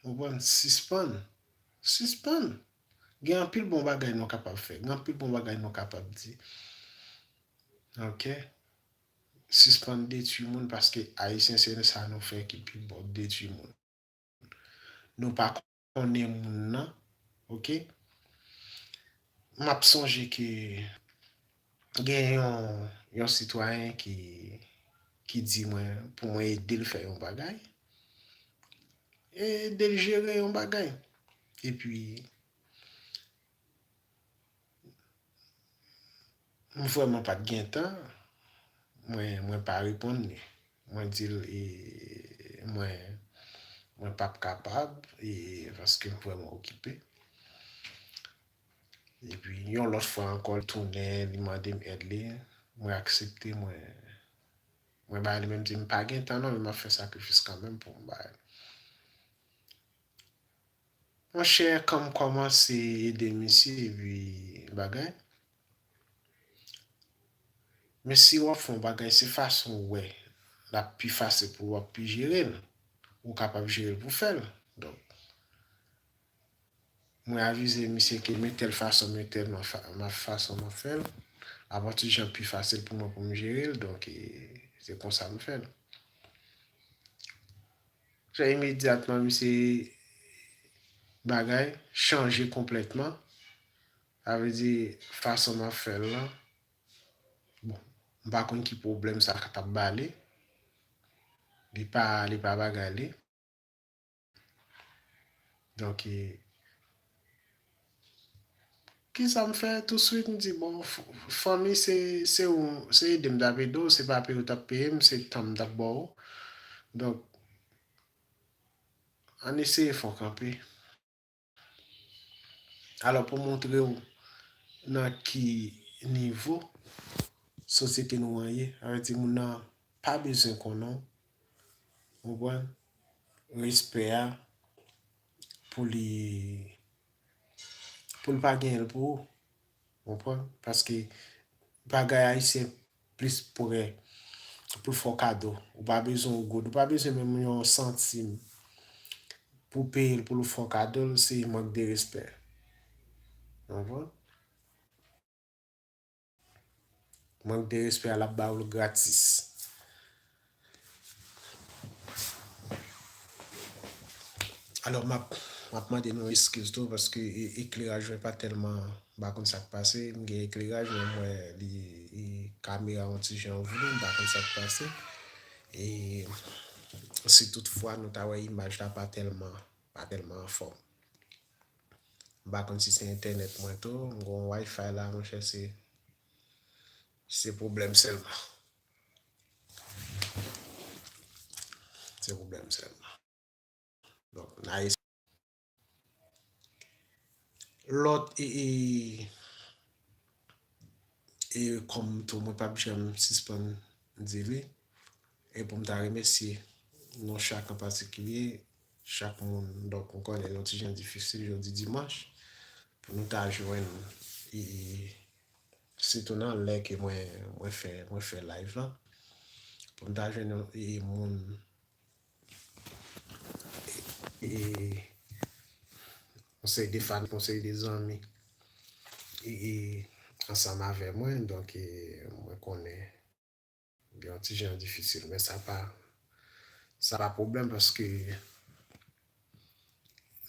Konprann sispann sispann gen anpil bon bagay nou kapab fè gen anpil bon bagay nou kapab di ok sispann detwi moun paske ayisyen se sa nou fè ki pi bon detwi moun nou pa konnen moun nan ok map sonje ke Gen yon sitwayen ki di mwen pou mwen ede l fè yon bagay, e ede l jere yon bagay. E pi, m vrèman pa t gen tan, mwen pa reponn li. Mwen di l e mwen pap kapab, e paske m vrèman okipe. Epi yon lòt fwa ankò li tounen li mande m èd li, mwen aksepte mwen mwen bay li men m di m pa gen tan non men m ap fè sakrifis kanmenm pou m bay. Monchè kan m kòmanse ede misye epi bagay men si w ap fè yon bagay se fason w wè l ap pi fasil pou w ap pi jere l ou kapab jere l pou w fè l donk. Mwen avize misye ke men tèl fason men tèl fason map fèl, avan tout jan pi fasil pou mwen pou m jerel, donk se konsa m fèl. Fè imedyatman misye bagay chanje konplètman, sa vle di fason map fèl lan, bon m pa konn ki pwoblèm sa ka tap bali, li pa bagay li. Donk e. Kisa m fè? Touswit m di bon fanmi se se ou se ede m t ap ede w se pa peye w t ap peye m se tan m t ap ba w. Donk ann eseye fon kanpe. Alò pou montre ou nan ki nivo sosyete nou an ye, sa vle di moun nan pa bezwen konnen w, ou konprann, respè a pou li pou l pa genyen l pou ou, Konprann? Paske bagay ayisyen plis prè pou l fè w kado. Ou pa bezwen yon goud, ou pa bezwen menm yon santim pou w peye l pou l fè w kado l, se mank de respè. Konprann? Mank de respè a l ap ba ou l gratis. Alò map map mande nou eskiz tou paske ekleraj mwen pa tèlman m pa konn sak pase m gen ekleraj men m wè li e kamera yon ti jan vre m pa konn sak pase e si tout fwa nou ta wè imaj la pa tèlman pa tèlman anfòm m pa konn si se entènèt mwen tou m gon wifi la monchè se se pwoblèm sèlman. Se problem sel. Donk na es. Lot e e e kom tou mwen pap janm sispann di li e pou m ta remesye nou chak an patikilye chak moun donk m konnen yon ti jan difisil jodi dimanch pou nou ta jwenn e e sitou nan lè ke mwen mwen fè mwen fè live lan pou m ta jwenn yon e moun e yon seri de fanatik yon seri de zanmi e ansanm avè mwen donk e mwen konnen gen yon ti jan difisil men sa pa sa pa pwoblèm paske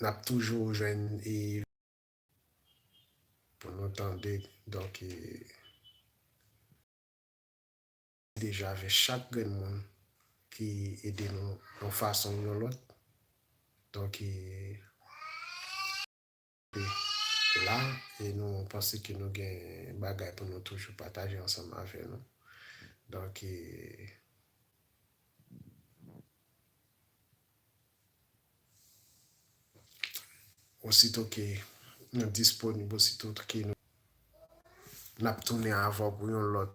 n ap toujou jwenn e Pou nou tande donk e deja avè chak grenn moun ki ede nou yon fason ou yon lòt donk e la e nou panse ke nou gen bagay pou nou toujou pataje ansanm avè nou donk e. Osito ke nou disponib, osito ke nou. N ap tounen avè w pou yon lòt.